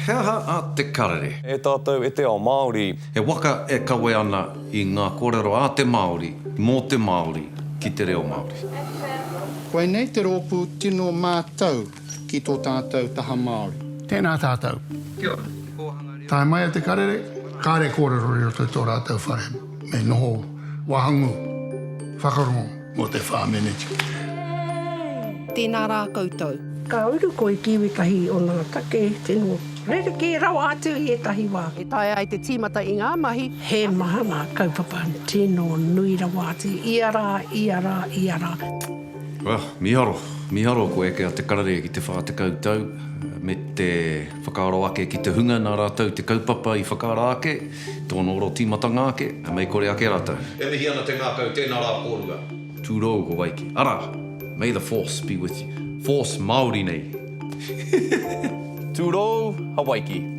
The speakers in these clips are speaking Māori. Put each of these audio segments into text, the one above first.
He aha a Te Karere? E tātou e te ao Māori. He waka e kawe ana i ngā kōrero a te Māori, mō te Māori, ki te reo Māori. Koinei te rōpū tino mātau ki tō tātou taha Māori. Tēnā tātou. Kia ora. Tae mai a Te Karere, kāre kōrero i roto i tō rātou whare me noho wahangū, whakarongo. Mo te wha meneti. Tēnā rā koutou. Ka uru koi ki wetahi o nga take tino rerekē rawa atu i etahi wa. E taea ai te tīmata i ngā mahi. He maha ngā kaupapa tino nui rawa atu ia rā, ia rā, ia rā. Well, miharo, miharo ko eke a Te Karere ki te wha tekau tau me te whakaaro ake ki te hunga na ratou te kaupapa i whakaara ake. Tōna oro tīmatanga ake, e mei kore ake rātou. E mihi ana te ngākau, tēnā rā kōrua. Tūrou ko wai kē. Arā! May the force be with you. Force Māori nei. Tūrou, Hawaiki.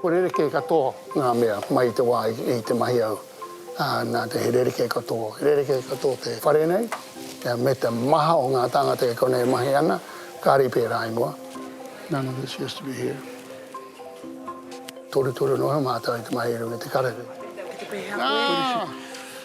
Ko rerekē katoa ngā mea mai i te wā i te mahi au, ā, nā te he rerekē katoa, rerekē katoa te whare nei, me te maha o ngā tāngata e kona e mahi ana, kāre i pērā ingoa. None of this used to be here. Torutoru noa mātou i te mahi i runga i te karere. Ā!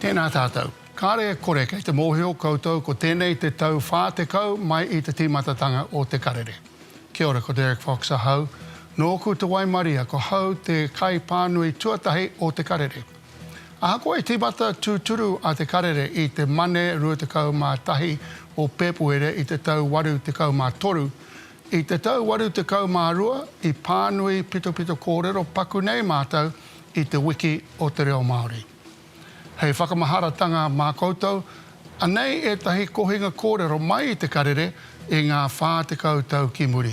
Tēnā tātou. Kāre e kore kei te mōhio koutou ko tēnei te tau 40 mai i te tīmatatanga o Te Karere. Kia ora, ko Derek Fox ahau. Nōku te waimaria, ko hau te kaipānui tuatahi o Te Karere. Ahakoa i tīmata tūturu a Te Karere i te Mane 21 o Pēpuere i te tau 83, i te tau 82 i pānui pitopito kōrero paku nei mātou i Te Wiki o te Reo Māori. Hei whakamaharatanga mā koutou, anei ētahi kohinga kōrero mai i Te Karere i ngā 40 tau ki muri.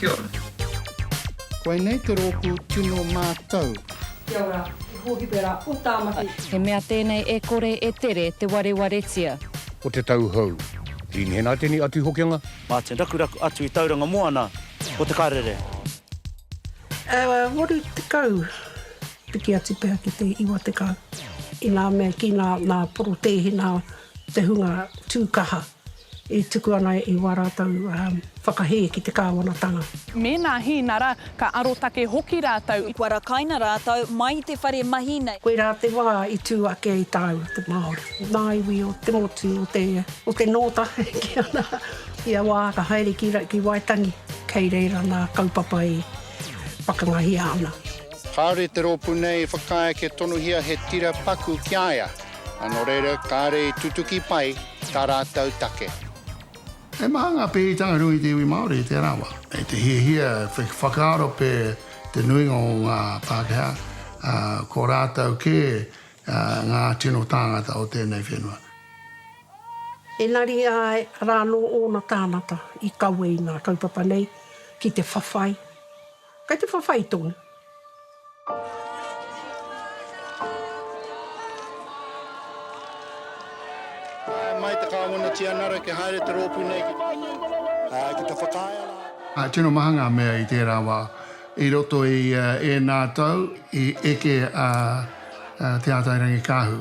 Kia ora. Koinei te rōpū tino mātau. Kia ora, he hōhipe rā o Tāmaki. He mea tēnei e kore e tere te warewaretia. Ko te tau hou. Dean Henaitene a Tuhokenga. Martin Rakuraku atu i Tauranga Moana ko Te Karere. E waru tekau, piki atu pea ki te iwa tekau. Inā mea kina nā Porotēhina te hunga tū kaha. E tuku ana i wā rātou whakahē ki te Kāwanatanga. Mēnā hīnara, ka arotake hoki rātou i. Kua rakaina rātou mai i te whare mahi nei. Koirā te wā i tū ake i tāua te Māori. Ngā iwi o te motu o te, o te nōta ki ana, ia wā ka haere ki, ki Waitangi. Kei reira nā kaupapa i whakangahia ana. Kāore te rōpū nei i whakaae kia tonuhia he tira paku ki a ia. A nō reira, kāre i tutuki pai tā rātou take. He maha ngā pēhitanga nui i te iwi Māori i tērā wā. Kei te hiahia te whakaaro pē te nuinga o ngā Pākehā, ā, ko rātou kē ngā tino tāngata o tēnei whenua. Engari ā rānō ōna tāngata i kawe i ngā kaupapa nei ki te whawhai. Kei te whawhai tonu. Tae mai te Kāwana Tianara kia haere te rōpū nei ki te whakaae a. Tino maha ngā mea i tērā wā. I roto i ēnā tau i eke a Te Ātairangikaahu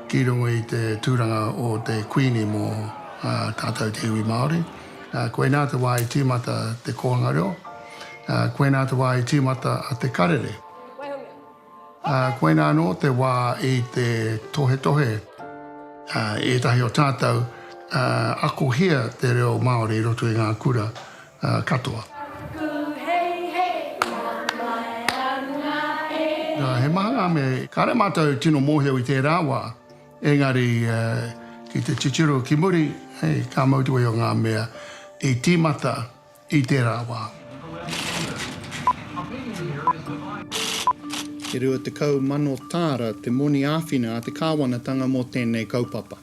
ki runga i te tūranga o te Kuini mō tātou te iwi Māori. Koinā te wā i tīmata te kōhanga reo. Koinā te wā i tīmata te karere. Koinā anō te wā i te tohetohe i ētahi o tātou akohia te reo Māori i roto i ngā kura katoa. He maha ngā mea kāre mātou tino mōhio i tērā wā. Engari, ki te titiro ki muri, ka mau te way o ngā mea i tīmata i tērā wā. E 20,000 tāra te moni āwhina a te kāwanatanga mō tēnei kaupapa.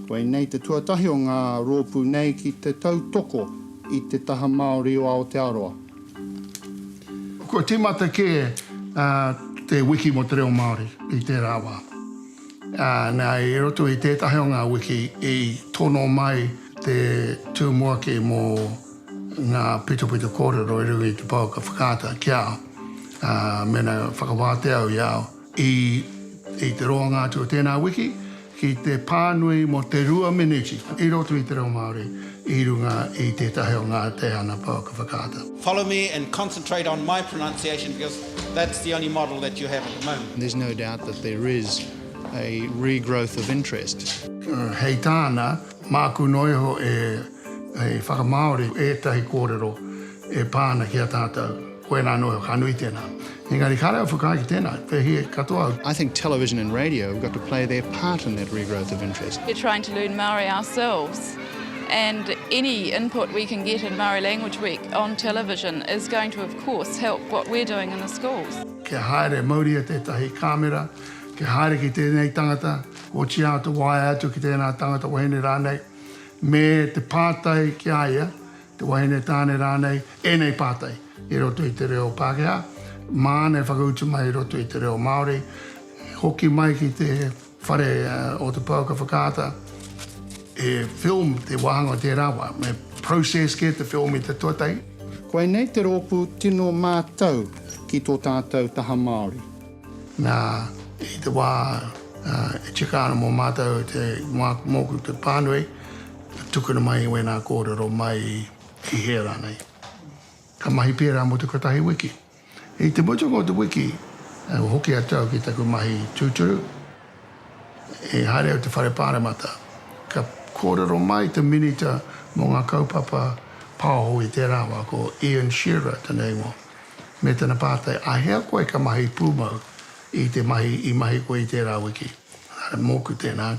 Koinei te tuatahi o ngā rōpū nei ki te tautoko i te taha Māori o Aotearoa. Kua tīmata kē te Wiki mō te Reo Māori i tērā wā. Nā, i roto i tētahi o ngā wiki i tono mai te tumuaki mō ngā pitopito kōrero i runga i te pouaka whakaata ki a au, mēnā e whakawātea au i a au. I te roanga atu o tēnā wiki, ki te pānui mō te rua meneti i roto i te reo Māori. i runga i tētahi o ngā te ana pouaka whakaata. Follow me and concentrate on my pronunciation because that's the only model that you have at the moment. There's no doubt that there is a regrowth of interest. Hei tāna, māku noa iho e whakamāori ētahi kōrero e pā ana ki a tātou. Koinā anō ka nui tēnā. Engari kāre au whakaae ki tēnā, te hī katoa au. I think television and radio have got to play their part in that regrowth of interest. We're trying to learn Māori ourselves and any input we can get in Māori Language Week on television is going to of course help what we're doing in the schools. Kia haere mauria tētahi kāmera, kia haere ki tēnei tangata, otīā te waea atu ki tēnā tangata wahine rānei, me te pātai ki a ia, te wahine tāne rānei, ēnei pātai i roto i te reo Pākehā, māna e whakautu mai i roto i te reo Māori, hoki mai ki te whare o te pouaka whakaata, he film te wāhanga o tērā wā, me process kē te film i te tuatahi. Koinei te rōpū tino mātau ki tō tātau taha Māori. Nā, i te wā e tika ana mō mātau te, mōku te pānui, Tukuna mai wēnā kōrero mai i hea rānei. Ka mahi pērā mō te kotahi wiki. I te mutunga o te wiki, kua hoki atu au ki taku mahi tūturu. I haere au te whare pāremata, ka kōrero mai te Minita mō ngā kaupapa pāho i tērā wā, ko Ian Shearer tana ingoa, me tana pātai, Āhea koe ka mahi pūmau i te mahi i mahi koe i tērā wiki? Mōku tēnā.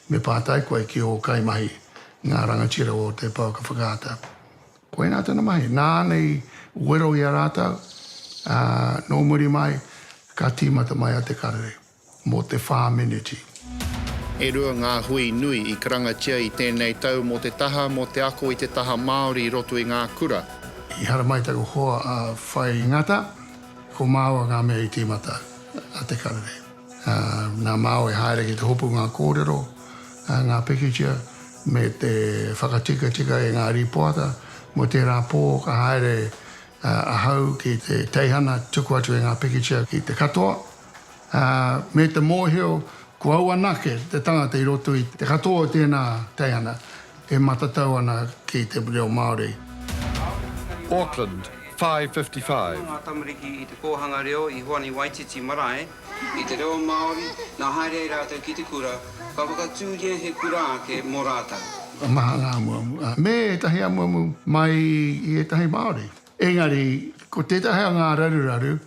Me pātai koe ki ō kaimahi, ngā rangatira o te pouaka whakaata. Koinā tana mahi, nāna i wero i a rātou, ā, nō muri mai, ka tīmata mai a Te Karere mō te whā meneti. E rua ngā hui nui i karangatia i tēnei tau mō te taha, mō te ako i te taha Māori i roto i ngā kura. I haramai taku hoa a Whai Ngata, ko māua ngā mea i tīmata, a Te Karere. Ngā māo e haere ki te hopu ngā kōrero, ngā pikitia, me te whakatikatika i ngā rīpoata. Mō tērā pō ka haere ahau ki te teihana tuku atu i ngā pikitia ki te katoa, me te mōhio ko au anake te tangata i roto i te katoa o tēnā teihana, E matatau ana ki te reo Māori. Auckland, 5:55. Ko ngā tamariki i te kōhanga reo i Hoani Waititi marae i te reo Māori, nā haere ai rātou ki te kura, ka whakatūria he kura ake mō rātou. Ka maha ngā amuamu, ā, me ētahi amuamu mai i ētahi Māori. Engari, ko tētahi o ngā raruraru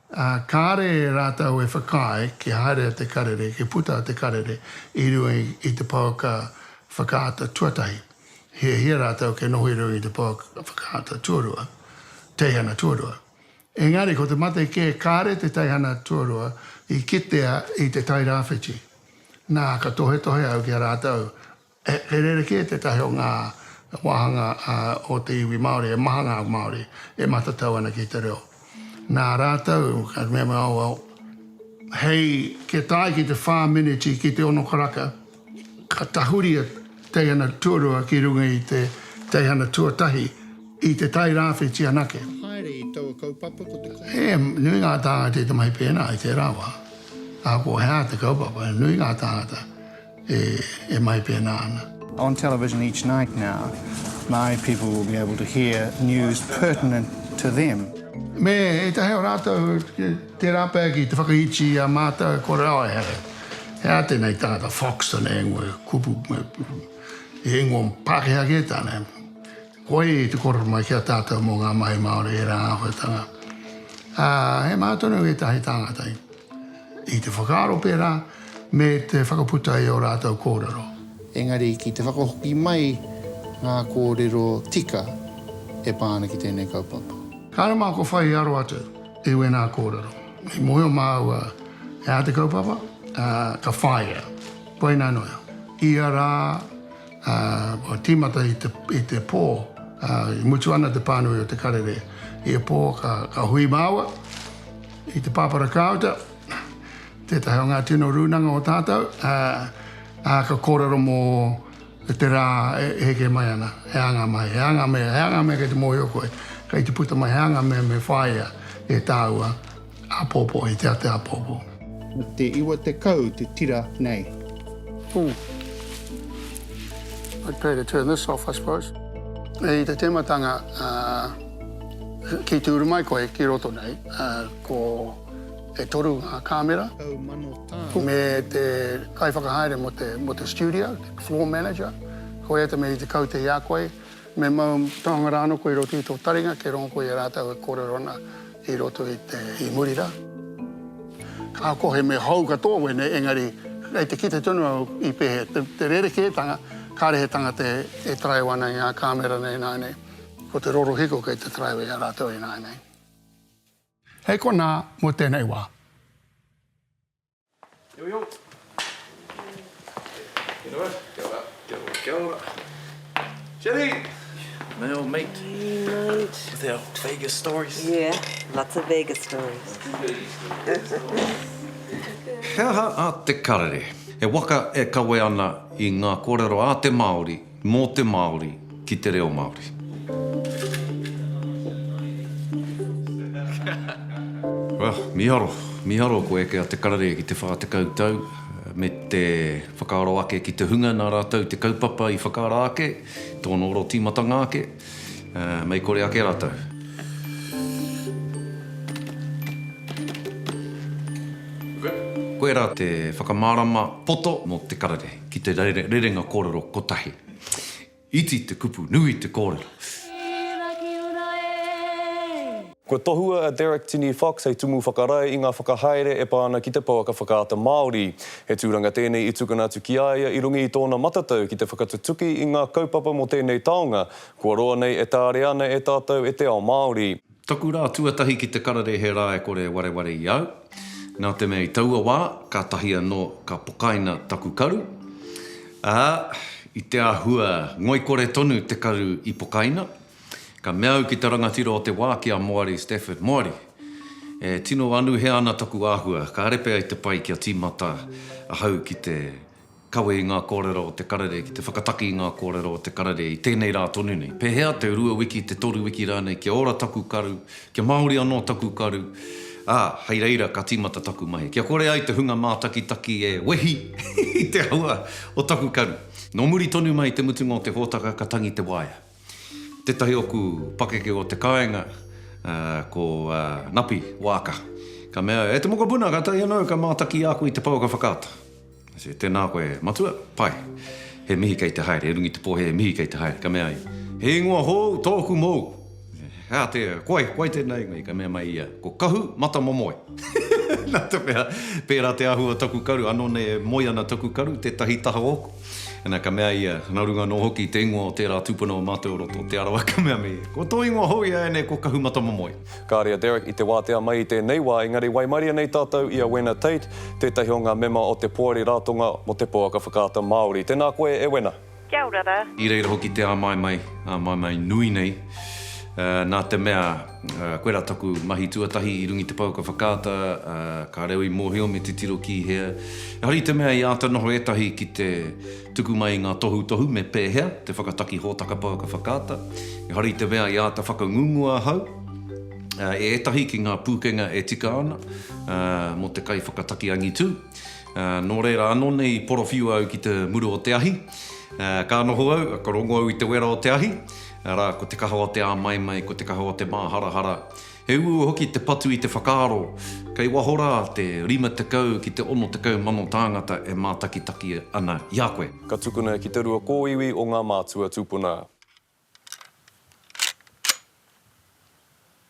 Ā, kāre e rātou e whakaae kia haerea te karere, kia puta te karere i runga i te pouaka whakaata tuatahi, hiahia rātou kia noho i runga i te pouaka whakaata tuarua, teihana tuarua. Engari ko te mate kē kāre te teihana tuarua i kitea i te Tairāwhiti. Nā, ka tohetohe au ki a rātou, He rerekē tētahi o ngā wāhanga o te iwi Māori e maha ngā Māori e matatau ana ki te reo. Nā rātou, ka mea mai, oh well, hei kia tae ki te whā meneti, ki te ono karaka, ka tahuri a teihana tuarua ki runga i te teihana tuatahi i te tai rāwhiti anake. Haere i taua kaupapa ko te kaupapa. He nui ngā tāngata i te mahi pēnā i tērā wā. Ahakoa he aha te kaupapa, he nui ngā tāngata. e mai pēnā ana. On television each night now, Māori people will be able to hear news pertinent to them. Me ētahi o rātou tērā pea ki te whakaiti i a mātou ko Raoehere. He aha tēnei tangata Foxton e ngoe kupu, e ngoe Pākehā kē tāna? Koe te kōrero mai ki a tātou mō ngā mahi Māori, ērā āhuatanga. Ā, he maha tonu ētahi tāngata i te whakaaro pērā me te whakaputa i ō rātou kōrero. Engari ki te whakahoki mai ngā kōrero tika e pā ana ki tēnei kaupapa. Kāre mā kua whai aro atu i wēnā kōrero. I mōhio māua e ā te kaupapa, ā, ka whāia. Koinā noa, ia rā Ā, kua tīmata i te, i te pō, ā, i mutu ana te pānui o te karere. Ia pō ka, ka hui māua i te pāpara kāuta, tētahi o ngā tino rūnanga o tātou, ā, ā, ka kōrero mō te rā e, e heke mai ana, he ānga mai, he ānga mea, he ānga mea kei te mōhio koe, kei te puta mai, he ānga mea me whāia e tāua. Apopo, i te a te apopo. Na te iwa tekau te tira nei. Ooh. I'd prefer to turn this off, I suppose. I te tematanga, ki te uru mai koe ki roto nei, ko e toru ngā kāmera. Me te kaiwhakahaere mō te studio, floor manager, koia te mea i te kaute i a koe, Me mau taonga rā anō koe i roto i tō taringa, kei rongo koe i a rātou e kōrero ana i roto i te, i muri rā. Ka kohe me hou katoa wēnei, engari kei te kite tonu au i pēhea te, te rerekētanga, kāre he tangata e, e taraiwa ana i ngā kāmera nei ināianei, ko te rorohiko kei te taraiwa i a rātou ināianei. Hei konā mō tēnei wā. He aha a Te Karere? He waka e kawe ana i ngā kōrero a te Māori Mō te Māori, ki te reo Māori. Well, miharo, miharo ko eke a Te Karere ki te 40 tau, me te whakaaro ake ki te hunga nā rātou te kaupapa i whakaara ake, tōna oro tīmatanga ake, mei kore ake rātou. Koirā te whakamārama poto mō Te Karere. Ki te rerenga kōrero kotahi. Iti te kupu, nui te kōrero. Kua tohua a Derek Tini Fox hei tumu whakarae i ngā whakahaere e pā ana ki te pouaka whakaata Māori. He tūranga tēnei i tukuna atu ki a ia i runga i tōna matatau ki te whakatutuki i ngā kaupapa mō tēnei taonga kua roa nei e tarea ana e tātou e te ao Māori. Taku rā tuatahi ki te kararehe rā e kore e wareware i au. Nā te mea i taua wā, kātahi anō ka pokaina taku karu, ā, i te āhua ngoikore tonu te karu i pokaina, ka mea au ki te rangatira o te wā, ki a Moari Stafford, Moari, e tino anuhea ana taku āhua, kāre pea i te pai kia tīmata ahau ki te. Kawe i ngā kōrero o te karere ki te whakataki i ngā kōrero o te karere i tēnei rā tonu nei. Pēhea te rua wiki, te toru wiki rānei kia ora taku karu, kia māori anō taku karu, ā, hei reira ka tīmata taku mahi. Kia kore ai te hunga mātakitaki e wehi i te hua o taku karu. Nō muri tonu mai i te mutunga o te hōtaka ka tangi te waea. Tētahi oku pakeke o te kāinga, ko Napi Waaka. Ka mea, E te mokopuna, ka taea nou ka mātaki i a koe i te pouaka whakaata. I said, Tēnā koe, matua, pai. He mihi kei te haere, e runga i te pōhē, he mihi kei te haere. Ka mea ia, He ingoa hou tōku mōu. Hea te, ko ai, ko ai tēnā ingoa i? Ka mea mai ia, Ko Kahu Matamomoe. Nā te mea, pērā te āhua o taku karu, anō nei e moe ana taku karu, tētahi taha oku. Ana, ka mea ia, Nā runga anō hoki i te ingoa o tērā tūpuna o Mātou o Roto, Te Arawa, ka mea me, Ko tō ingoa hou i a ēnei ko Kahumatamomoe. Kāre a Derek i te wātea mai i tēnei wā, engari waimaria nei tātou i a Wena Tate, tētahi o ngā mema o te Poari Ratonga mō te Pouaka Whakaata Māori. Tēnā koe e Wena. Kia ora ra. I reira hoki te āmaimai, āmaimai nui nei, nā te mea. Koirā taku mahi tuatahi i rungi te pou ka whakaata, ka reo i mōhio me titiro ki hea. Ehara i te mea i āta noho ētahi ki te tuku mai i ngā tohutohu me pēhea te whakataki hōtaka pou ka whakaata. Ehara i te mea i āta whakangungua ahau e ētahi ki ngā pūkenga e tika ana mō te kaiwhakataki angitu. Nō reira anō nei i porowhiu au ki te muru o te ahi. Ka noho au, ka rongo au i te wera o te ahi. Arā, ko te kaha o te āmaimai, ko te kaha o te māharahara. He uaua hoki te patu i te whakaaro, kei waho rā te rima tekau ki te ono tekau mano tāngata e mātakitaki ana i a koe. Ka tukuna ki te rua kōiwi o ngā mātua tūpuna.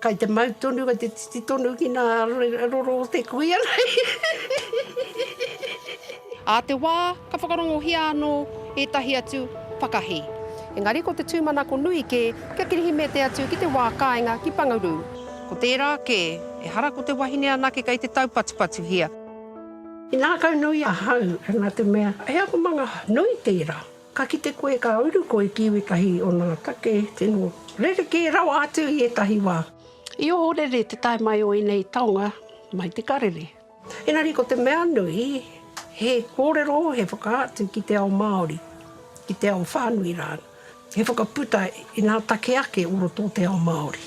Kai te mau tonu, kai te titi tonu ki nā roro o te kuia nei. Ā te wā, ka whakarongohia anō ētahi atu whakahī. Engari ko te tūmanako nui kē kia kirihimete atu ki te wā kāinga ki Pangarū. Ko tērā kē, ehara ko te wahine anake kei te taupatupatuhia. He ngākau nui ahau, nā te mea, he akomanga nui tērā. Ka kite koe ka uru koe ki wētahi o nā take tino rerekē rawa atu i ētahi wā. I ohorere te tae mai o ēnei taonga mai te karere. Engari ko te mea nui, he kōrero, he whakaatu ki te ao Māori, ki te ao whānui rānei, he whakaputa inā take ake o roto o te ao Māori.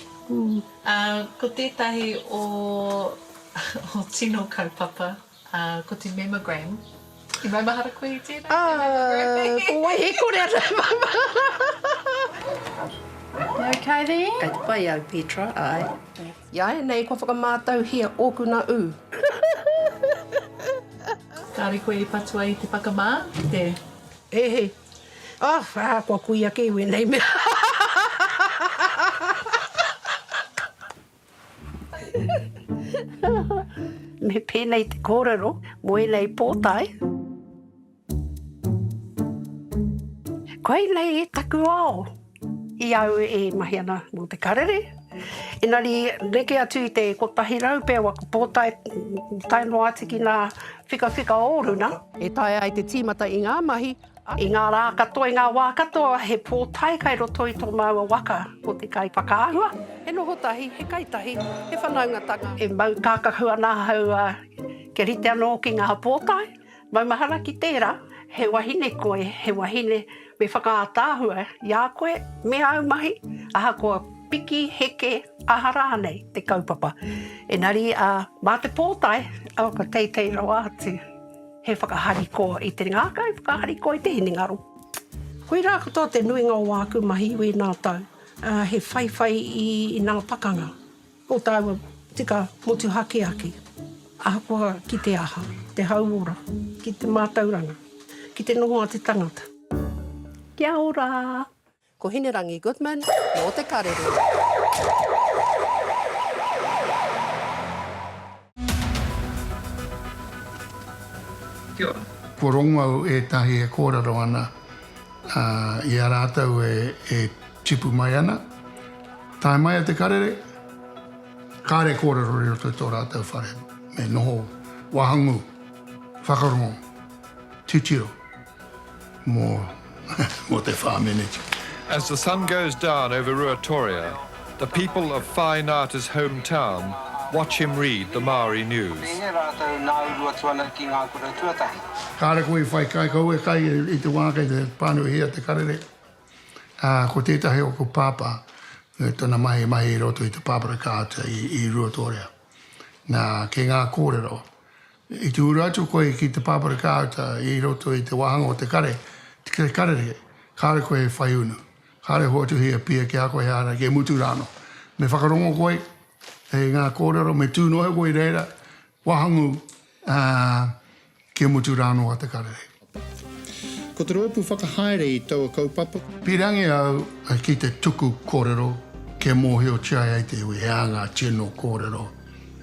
Ā, ko tētahi o ō tino kaupapa. Ā, ko te mema Graham. I maumahara koe i tēnā, Ā, te mema Graham? ko wai he kore ana e maumahara? You ok there? Kei te pai au, Petra, āe. I āianei kua whakamātauhia ōku nā ū. Kāore koe i patua i te whakamā, i te. He, he. Oh, ā, kua kui ake i wēnei mea. Me pēnei te kōrero mō ēnei pōtae. Koinei taku ao i au e mahi ana mō te karere. Engari neke atu i te 100 pea o aku pōtae, tae noa atu ki ngā whikawhika o runa. E taea ai te tīmata i ngā mahi I ngā rā katoa, i ngā wā katoa, he pōtae kai roto i tō māua waka, ko te kai whakaahua, he noho tahi, he kai tahi, he whanaungatanga. E mau kākahu ana ahau kia rite anō ki ngā pōtae, maumahara ki tērā, he wahine koe, he wahine me whakaataahua i a koe me āu mahi, ahakoa piki, heke, aha rānei te kaupapa. Engari mā te pōtae, awa ka teitei rawa atu. He whakahariko i te ngākau, whakahariko i te hinengaro. Koirā katoa te nuinga o āku mahi i wēnā tau, he whaiwhai i ngā pakanga o tāua tika motuhake ake, ahakoa ki te aha, te hauora, ki te mātauranga, ki te noho a te tangata. Kia ora! Ko Hinerangi Goodman mō te karere. Ko Rongau ētahi e kōrero ana i a rātou e tipu mai ana. Tae mai a te karere, kāre kōrero i roto i tō rātou whare, me noho wahangū, whakarongo, titiro. mō te whā meneti. As the sun goes down over Ruatoria, the people of Whāi Ngāta's home town watch him read the Māori news. Tēnei rātou nāuru atu ana ki ngā kura tuatahi. Kāre koe i whai kai kau e kai i te wā kei te pānuihia te karere, ā, ko tētahi o ko Pāpā, me tōna mahi mahi i roto i te pāpara kāuta i Ruatoria. Nā, kei ngā kōrero, I tūru atu koe ki te pāpara kāuta i roto i te wāhanga o te kare, te karere, kāore koe e whai unu, kāore e hoatuhi e pia ki a koe ehara ki mutu rānō. Me whakarongo koe e ngā kōrero, me tū noa koe i reira wāhangū, ā, ki mutu rānō a te karere. Ko te roopu whakahaere i taua kaupapa. Pirangi au ki te tuku korero kia mohiotia ai te iwi he aha nga tino korero,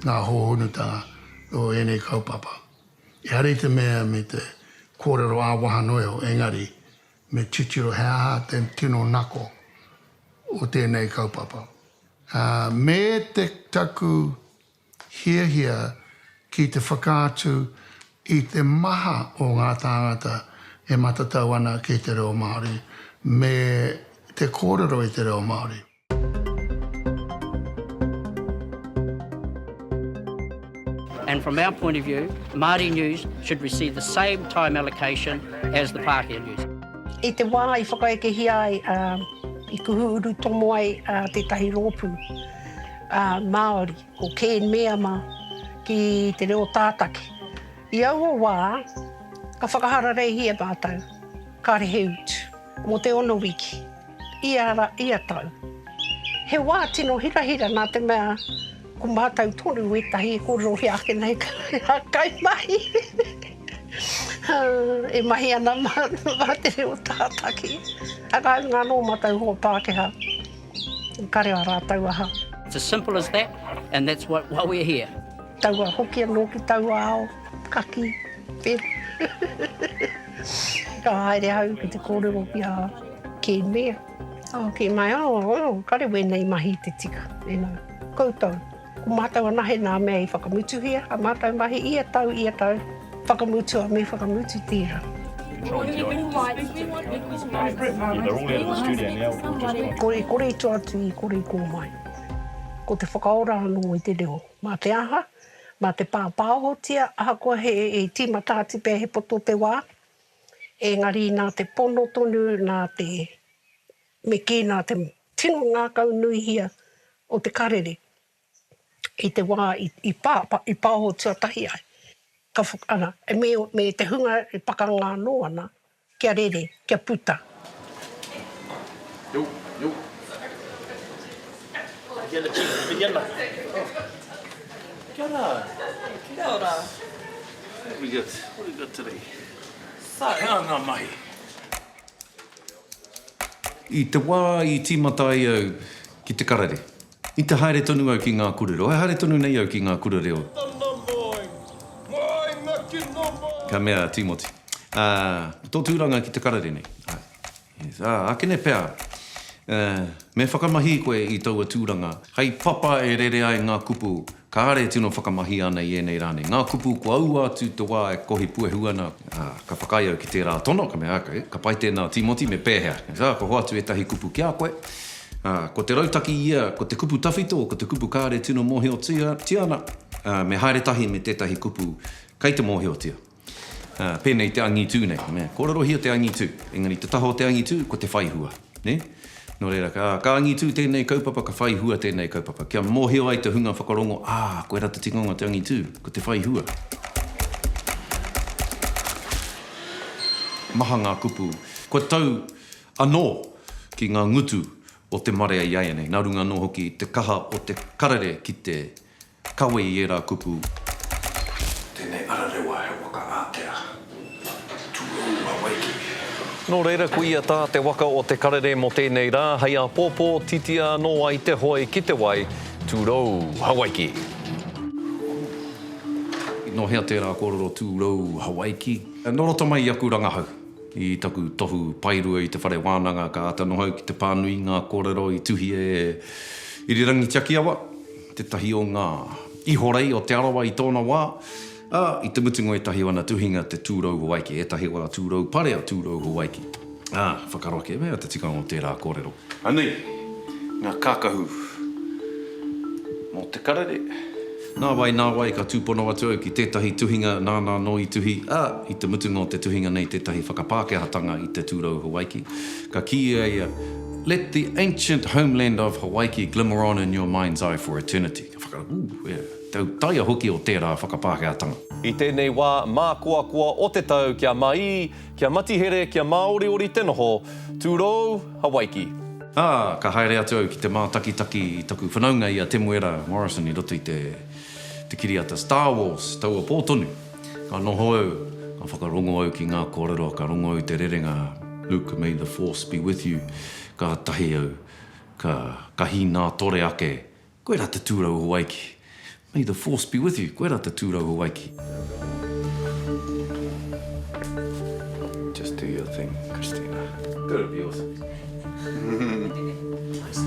nga hohonutanga o enei kaupapa. Ehara i te mea me te korero awaha noa iho engari me titiro he aha te tino nako o tenei kaupapa. Me te taku hiahia ki te whakaatu i te maha o ngā tāngata e matatau ana ki te reo Māori me te kōrero i te reo Māori. And from our point of view, Māori News should receive the same time allocation as the Pākehā News. I te wā i whakaekehia ai, i kuhu urutomo ai tētahi rōpū. a Māori, ko Keen Meama ki te reo tātaki. I aua wā, ka whakahararehia mātou, kāre he utu, mō te ono wiki, ia ra, ia tau. He wā tino hirahira nā te mea ko mātou tonu ētahi e kōrerohia ake nei hā kaimahi, hā, e mahi ana mā, mā te reo tātaki. Ā, kāinga anō mātou hoa Pākehā. I kare a rātou aha. It's as simple as that and that's what why we're here. Taua hoki anō ki taua ao kaki e. Ka haere au ki te kōrero ki a Ken Mair. Oh, ki mai, oh, oh, kare wēnei mahi te tika, you know, koutou. Ko mātou anahe nā mea i whakamutuhia a mātou mahi ia tau, ia tau, whakamutua me whakamutu tira. Kore, kore i tua atu i kore i kō mai. Ko te whakaora anō i te reo. Mā te aha, mā te pāpāohotia, ahakoa he, e tīmata atu pea he poto te wā, engari nā te pono tonu, nā te, Me kī, nā te tino ngākau nuihia o te karere i te wā i pā, i pāho tuatahi ai, ka whak, ana, me, me te hunga e pakanga anō ana, kia rere, kia puta. I te wā i tīmata ai au ki te karere, i te haere tonu au ki ngā kūrero, e haere tonu nei au ki ngā kura reo. Ka mea a Tīmoti, Ā, ko tō tūranga ki te karere nei. Ā, akene pea, me whakamahi koe i taua tūranga, hei papa e rere ai ngā kupu Kāre e tino whakamahia ana i ēnei rā nei ngā kupu kua aua atu te wā e kohi puehu ana. Ā, ka whakaae au ki tērā tono, ka mea, Ake, ka pai tēnā, Tīmoti, me pēhea? Ā, kua hoatu ētahi kupu ki a koe. Ā, ko te rautaki i ia, ko te kupu tawhito, ko te kupu kāre e tino mōhiotia ana, ā, me haere tahi me tētahi kupu kei te mōhiotia. Ā, pēnei te angitū nei, nē. Kōrerohia te angitū, engari te taha o te angitū, ko te whai hua, nē? Nō reira, ka, ka angitū tēnei kaupapa, ka whai hua tēnei kaupapa. Kia mōhio ai te hunga whakarongo, ā, koe rā te tikanga o te angitū, ko te whai hua. Maha ngā kupu kua tau anō ki ngā ngutu o te marea i āianei, nā runga anō hoki i te kaha o te karere ki te Kawe i ērā kupu. Tēnei ararewa he waka ātea ki Tūrou Hawaiki. Nō reira ko ia tā te waka o Te Karere mō tēnei rā hei āpōpō titia anō ai te hoe ki te wai, Tūrou Hawaiki. Ooh. Nō hea tērā kōrero Tūrou Hawaiki? Nō roto mai i aku rangahau, i taku tohu paerua i te whare wānanga ka āta nohau ki te pānui i ngā kōrero i tuhia e Irirangi Tiakiawa. tētahi o ngā ihorei o Te Arawa i tōna wā, ā, i te mutunga o ētahi o ana tuhinga te Tūrou Hawaiki, ētahi o ana tūrou pare a Tūrou Hawaiki, ā, whakaaro ake mea te tikanga o tērā kōrero. Anei ngā kākahu mō te karere. Nāwai, nāwai ka tūpono atu au ki tētahi tuhinga nāna anō i tuhi, ā, i te mutunga o te tuhinga nei tētahi whakapākehātanga i te Tūrou Hawaiki. Ka kī a ia, Let the ancient homeland of Hawaiki glimmer on in your mind's eye for eternity. Ka whaka, Ū, e, tau taia hoki o tērā whakapākehātanga. I tēnei wā mākoakoa o te tau kia māī, kia matihere, kia māoriori te noho, tūrou Hawaiki. Ā, ka haere atu au ki te mātakitaki i taku whanaunga i a Temuera Morrison i roto i te kiriata Star Wars, taua pō tonu. Ka noho au, ka whakarongo au ki ngā kōrero, ka rongo au te rerenga Luke may the force be with you, kātahi au ka ka hīnātore ake, Koe rā te tūrau Hawaiki! May the force be with you, koe rā te tūrau Hawaiki! Just do your thing, Christina. Go to be awesome. Nice.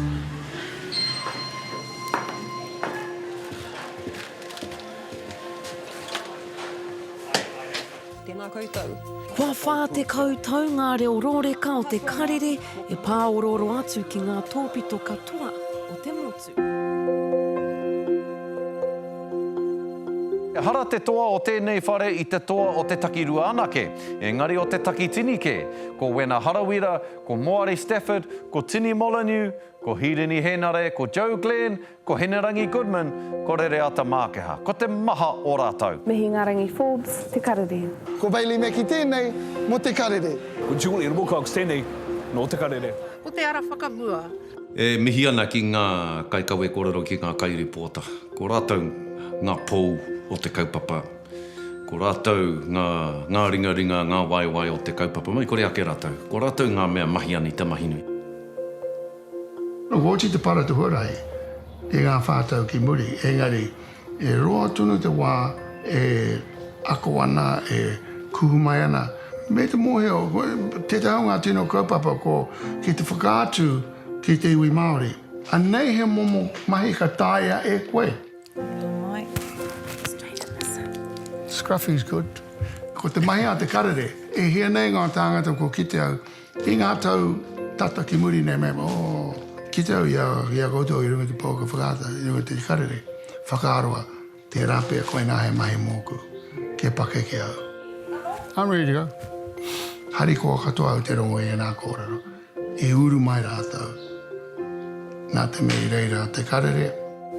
Tēnā koutou. Kua whā tekau tau ngā reo rōreka o te karere e pāorooro atu ki ngā tōpito katoa o te motu. Ehara te toa o tēnei whare i te toa o te takirua anake, engari o te takitini kē. Ko Wena Harawira, ko Moari Stafford, ko Tini Molyneux, ko Hīrini Hēnare, ko Joe Glenn, Ko Hinerangi Goodman, ko Rereata Mākeha. Ko te maha o rātou. Me Hingarangi Forbes te karere. Ko Bailey Mackie tēnei mō te karere. Ko Julie Wilcox tēnei nō te karere. Ko te ara whakamua. E mihi ana ki ngā kaikawe kōrero ki ngā kairipōta. Ko rātou ngā pou o te kaupapa. Ko rātou ngā ngā ringaringa, ngā waewae o te kaupapa mai kore ake rātou. Ko rātou ngā mea mahi anita, mahi nui. Nō Kōti te para te huarahi i ngā whā tau ki muri, engari e roa tonu te wā e ako ana, e kuhu mai ana. Me te mōhio, tētahi o ngā tino kaupapa ko ki te whakaatu ki te iwi Māori. Anei he momo mahi ka taea e koe. Nau mai, straight in the sun. Scruffy's good. Ko te mahi a te karere, e hia nei ngā tāngata kua kite au. I ngā tau tata ki muri nei mema, kite au i a koutou i runga i te pouaka whakaata, i runga i te karere whakaroa, tērā pea koinā he mahi mōku, kia pakeke au. I'm ready to go. Harikoa katoa au te rongo i ēnā kōrero, i uru mai rātou. Nā te mea i reira a Te Karere.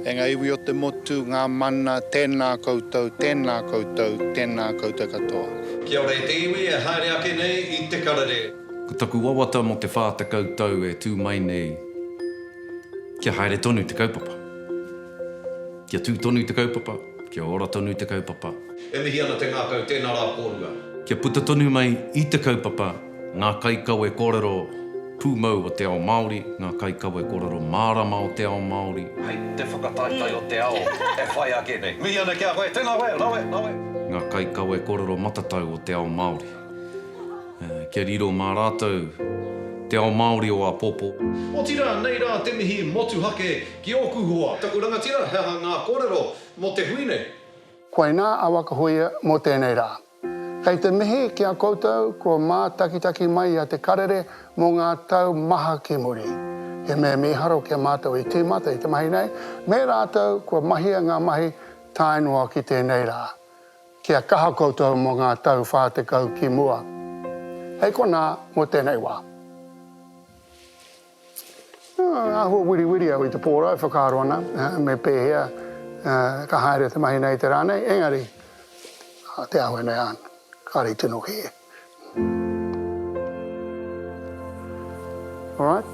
E ngā iwi o te motu, ngā mana, tēnā koutou, tēnā koutou, tēnā koutou katoa. Kia ora e te iwi e haere ake nei i Te Karere. Ko taku wawata mō te whā tekau tau e tū mai nei, kia haere tonu te kaupapa. Kia tū tonu te kaupapa, kia ora tonu te kaupapa. E mihi ana te ngākau, tēnā rā kōrua. Kia puta tonu mai i te kaupapa. Ngā kaikawe kōrero pūmau o te ao Māori, ngā kaikawe kōrero mārama o te ao Māori. Hei te whakataetae o te ao e whai ake nei. Mihi ana ki a koe. Tēnā koe. Rawe, rawe. Ngā kaikawe kōrero matatau o te ao Māori. Kia riro mā rātou te ao Māori o āpōpō. Otirā, nei rā te mihi motuhake ki ōku hoa. Taku rangatira, he aha ngā kōrero mō te hui nei? Koinā a Waka Hoia mō tēnei rā. Kei te mihi ki a koutou kua mātakitaki mai i a Te Karere mō ngā tau maha ki muri. He mea mīharo ki a mātou i tīmata i te mahi nei, me rātou kua mahia ngā mahi tae noa ki tēnei rā. Kia kaha koutou mō ngā tau 40 ki mua. Hei konā mō tēnei wā. Āhua wiriwiri au i te pōra e whakaaro ana me pēhea ka haere te mahi nei i te rā nei, engari te āhua nei āna, kāre i tino kī e. Alright.